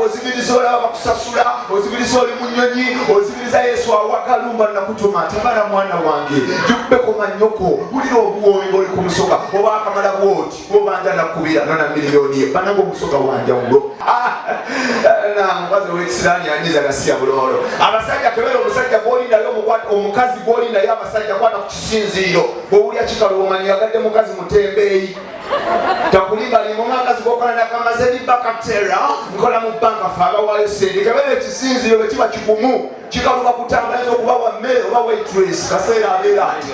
ozibiriza olaba bakusasula ozibiriza oli munyonyi ozibiriza yesu awakalumba nakutuma tabala mwana wange jukubeko manyoko wulira obuwoomi boli ku musoka oba akamala bwoti obanja nakubira nona miliyoni ye bananga omusoka wanjawulo ah, mukazi owekisirani anyiza gasiya bulolo abasajja kebera omusajja gwoli naye omukazi gwoli naye abasajja kwata ku kisinziiro bwowulya kikaluomanyi yagadde mukazi mutembeeyi takulibalimumakazi gokola nakamaze bibakatera nkola mu banka fe abawayo sente kebera ekisinziiro bwekiba kigumu kikaluba kutambulaza okuba wa mmere oba waitress kaseera abeera ati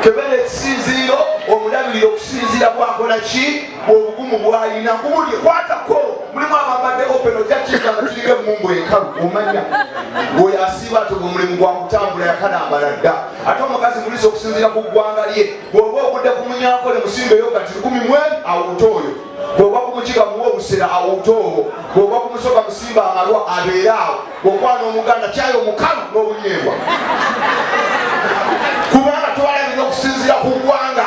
kebera ekisinziiro omulabirira okusinziira bwakola ki bwobugumu bwalina kubuli kwatako mulimu abambadde open ojakiika nga tuliga emumbu enkalu omanya oyo asiiba ati omulimu gwakutambula yakalambala dda ate omukazi mulisa okusinziira ku ggwanga lye bwoba ogudde ku munyankole musimbeyo kati lukumi mwe awuta oyo bwoba kumukiga muwa obusera awuta obwo bwoba kumusoka musimba amalwa abeere awo bwokwana omuganda kyayo omukalu n'obunyeebwa kubanga twalabira okusinziira ku ggwanga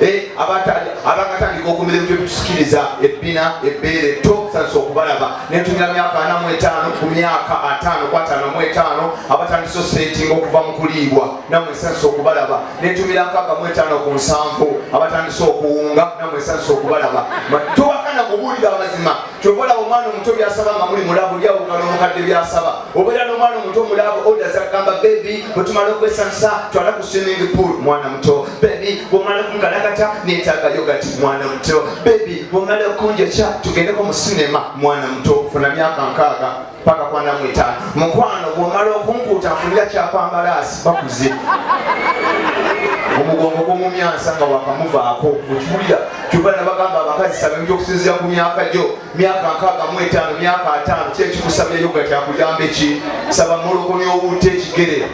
eh, abakatandika okumira ebintu ebitusikiriza ebbina ebbeere to batandise okubalaba netumira myaka ana mu etaano ku myaka ataano ku ataano mu etaano abatandise osetinga okuva mu kuliibwa namwe esanyusa okubalaba netumira nkaaga mu etaano ku nsanvu abatandise okuwunga namwe esanyusa okubalaba tubakana kubuulira amazima kyova olaba omwana omuto byasaba nga muli mulabu byawukana omukadde byasaba obeera n'omwana omuto omulabu oda zagamba bebi bwetumala okwesanisa twala ku swimming pool mwana muto bebi bwomala okunkalakata netaaga yogati mwana muto bebi bwomala okunjokya tugendeko mu sinema mwana muto funa myaka nkaaga paka kwa namweta mukwano bwomala okunkuuta nfunira kyapambalaasi bakuze omugongo gwomumyansa nga wakamuvaako okiwulira kyova nabagamba abakazi sabemja okusinzira ku myaka gyo myaka nkaaga mu etaano myaka ataano ki ekikusabyeyo nga kyakuyamba eki saba molokonya obuuta ekigere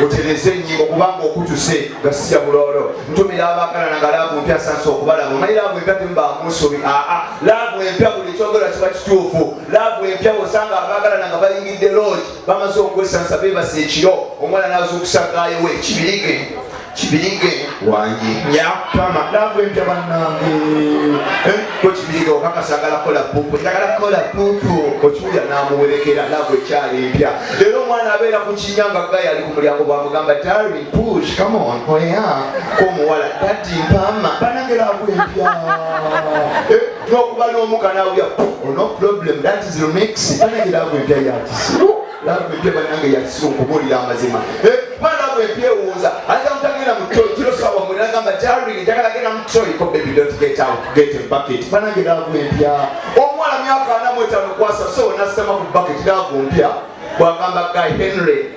otereze enyingo kubanga okutuse nga sija buloolo ntumira abaagalana nga laavu mpya sansa okubalaba omanyi laavu empya temubamusobi aa laavu empya buli kyogera kiba kituufu laavu empya osanga abaagalana nga bayingidde loogi bamaze okwesansa beebasa ekiro omwana n'azuukusa gaayo we kibirige kibirige wange nyakama laavu empya bannange eh, ko kibirige okakasa agala kola pupu njagala kola pupu okiwulira n'amuwerekera laavu ekyali empya leero omwana abeera ku kinya nga gayi ali ku mulyango bwamugamba dari push come on oya oh, komuwala dadi mpama banange laavu empya eh, n'okuba n'omu kanawulira ono problem that is remix banange laavu empya yakisi laavu empya banange yakisi okubuulira amazima eh, kuba laavu empya ewuuza ayinza mutagenda mu toyi kiro sawa mwe nagamba jarring njagala genda mu toyi ko baby don't get out get a bucket banange laavu empya omuwala myaka ana mwetano kwasa so nasitama ku bucket laavu mpya bwagamba guy henry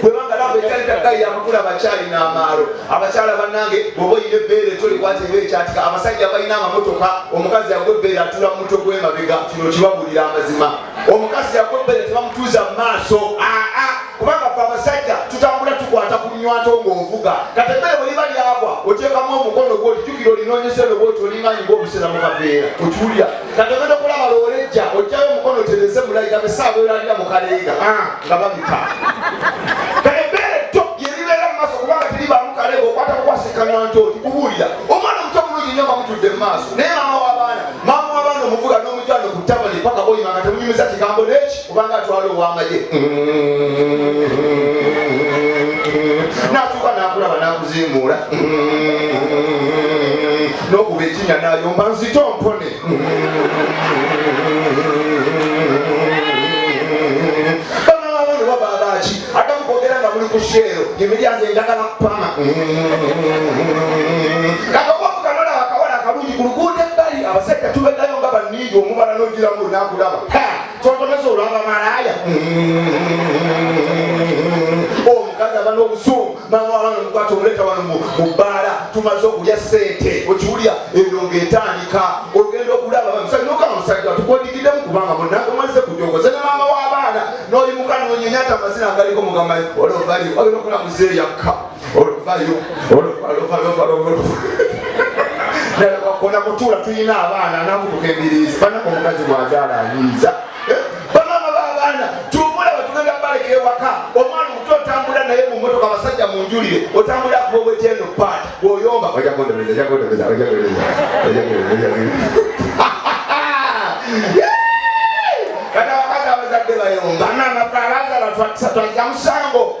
kubanga laba ekyali takka yamakula abakyali n'amaalo abakyala bannange bwoba olina ebbeere tolikwata eba ekyatika abasajja balina amamotoka omukazi yagwa ebbeere atula mu mutwe gw'emabega kino kibabuulira amazima omukazi yagwa ebbeere tebamutuuza mu maaso aa kubanga fe abasajja tutambula tukwata ku nywato ng'ovuga kati emmere bwe liba lyagwa oteekamu omukono gwo olijukira olinoonyesa eno bwoti olinganyi ng'obusera mu kaveera okiwulira kati ogenda okulaba lowolejja ojjayo omukono tereze mulayiga besaawa elalira mu kaleega ah, nga babika kale ebbeere tto lyeribeera mu maaso kubanga teribaamu kaleega okwata kukwasikanywa nti oti kubuulira omwana omuto bulungi nyo nga mutudde mu maaso naye maama w'abaana maama w'abaana omuvuga n'omujano ku tabani paka oyima nga temunyumiza kigambo n'eki kubanga atwala owamagye natuuka nakulaba nakuzimuula nokuba ekinya nayomba nzito mpone kusheero emiryango endagala kupama kakawakukanona akawala akalungi ku luguudo ebbali abasajja tubedayo nga baniiga omubala nogiramu nakulaba Twagamaze olwaba malaaya omukazi aba n'obusungu mama wabana omukwata omuleta wano mu bbaala tumaze okulya ssente okiwulya eno ng'etandika ogenda okulaba musajja okama musajja tukwodikiddemu kubanga munange mwalize kujogoza ne maama w'abaana n'oyimuka nonyenya ati amazina agaliko mugamai olobali ogenda okula muzeeyakka oluvayo ona mutuula tulina abaana namutuka embirizi banako omukazi bwazaala ayinza eh, bamama babaana tubula batugenda baleka ewaka omwana omuto otambula naye mumotoka abasajja munjulire otambula kuba obwetyeno paati bwoyomba kati abakazi abazadde bayomba nanafaalaza batwakisa twaja musango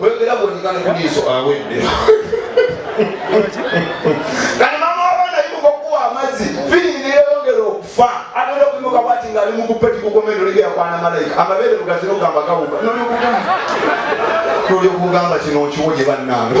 Webera bwonyikana kuliiso awedde. Kati mama wabana yimuka okuwa amazzi fini neyeyongera okufa agenda okuyimuka bwati nga ali mukupeti kukomendo ligera kwana malayika amabeere bugazi nogamba gawuga nolyo kugamba kino okiwo gye bannange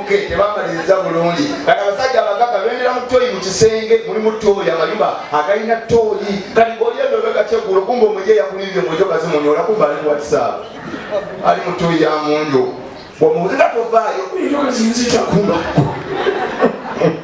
tebamaliriza bulungi kati abasajja abagaga bendera mu toyi mu kisenge mulimu toyi amayumba agalina toyi kati olyebebegakyeggulo kumba omuye yakulimbye mujo kazimunyola kumba ali whatsapp ali mu toyi ya munju omubuzi nga tovaayo kuba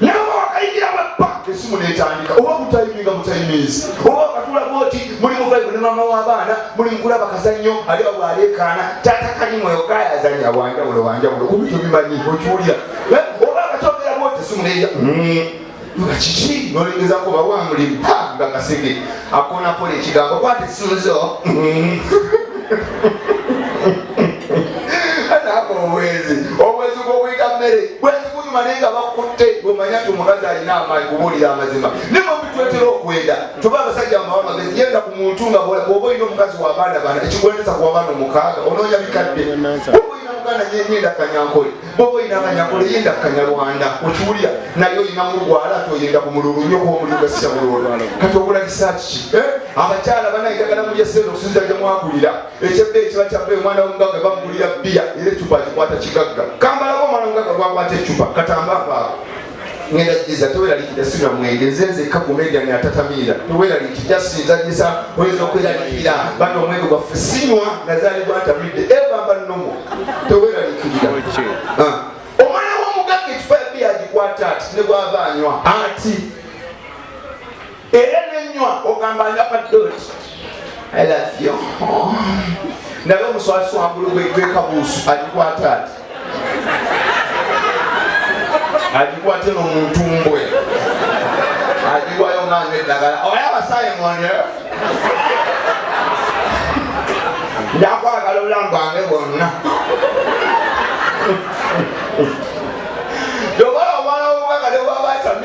naye oba wakayingira mu ebba esimu netandika oba kutayiminga mutayimizi oba wakatula bwoti muli muvaibu ne mama w'abaana muli mukula bakazannyo ali awo aleekaana taata kali mwoyo gayazanya wanjawulo wanjawulo kubi tubimanyi okiwulira eh, oba akakyogera bwoti esimu neya hmm. nga kiki nolengezako oba wamulimu nga kasege akona kola ekigambo kwata esunzo naako obwenzi obwenzi bwobuyita mmere bwenzi bunyuma naye nga bakutte omanya ti omukazi alina amaanyi kubuulira amazima naye mubitwetera okwenda tuba abasajja mumawa magezi yenda ku muntu nga bwoba olina omukazi wabaana bana ekigwendeza ku wabaana omukaaga onoonya bikadde muganda nyenyenda kanyankole bwoba olina akanyakula eyenda ku kanyarwanda okiwulira naye olina mulwala ati oyenda ku mululu nyo kuba omululu gasisa mululu kati ogula kisaakiki eh? abakyala bana enjagala mulya sente okusinza gye mwakulira ekyebbe ekiba kyabbe omwana womugagga bamugulira bbiya era ecupa akikwata kigagga kambalaba omwana omugagga gwakwata ecupa katamba apaako ngenda jiza teweralikira sinywa mwenge nze nzekka ku media ne atatamiira teweralikira just nzajisa oyinza okweralikira bano omwenge gwaffe sinywa nazaali gwantamidde ebamba eh, nomo teweralikirira ah. omwana w'omugagga ekifayabi yagikwata ati ne gwava anywa ati era nenywa ogamba ndaba doti i love you ndaba omuswasi wangulu gwekabuusu agikwata ati agikwate nomuntu mbwe agiwayo nanga eddagala oyo abasaye mwone njakwagala obulamu bwange bwonna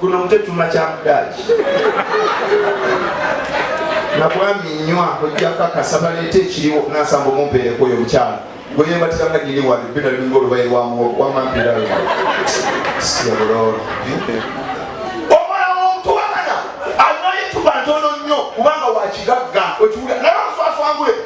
kuno mutetuma kyamudaaki nabwami nywa ojja kakasa baleeta ekiriwo nasamba omumpeereko oyo mukyala gweyebatira nga giri wano bina linga olubayi lwamwampira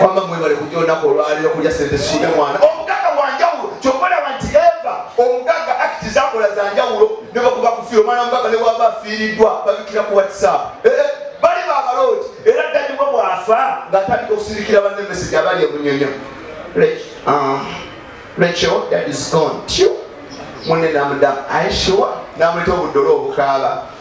wamma mwebale kujja olunaku olwaliro kulya sente sikude mwana omugagga wanjawulo kyokka olaba nti eva omugagga akiti zakola zanjawulo ne bakuba kufiira omwana omugagga ne bwaba afiiriddwa babikira ku whatsapp eh, eh, bali babalooti era ddanyuma bwafa ng'atandika okusirikira banne meseji abali emunyonyo lekyo uh, that is gone tyo munne namudamu ayeshiwa namuleta obudolo obukaaba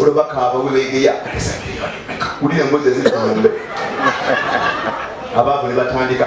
olaba kaaba webegeya wulira embozi eziri ku lumbe abaavu ne batandika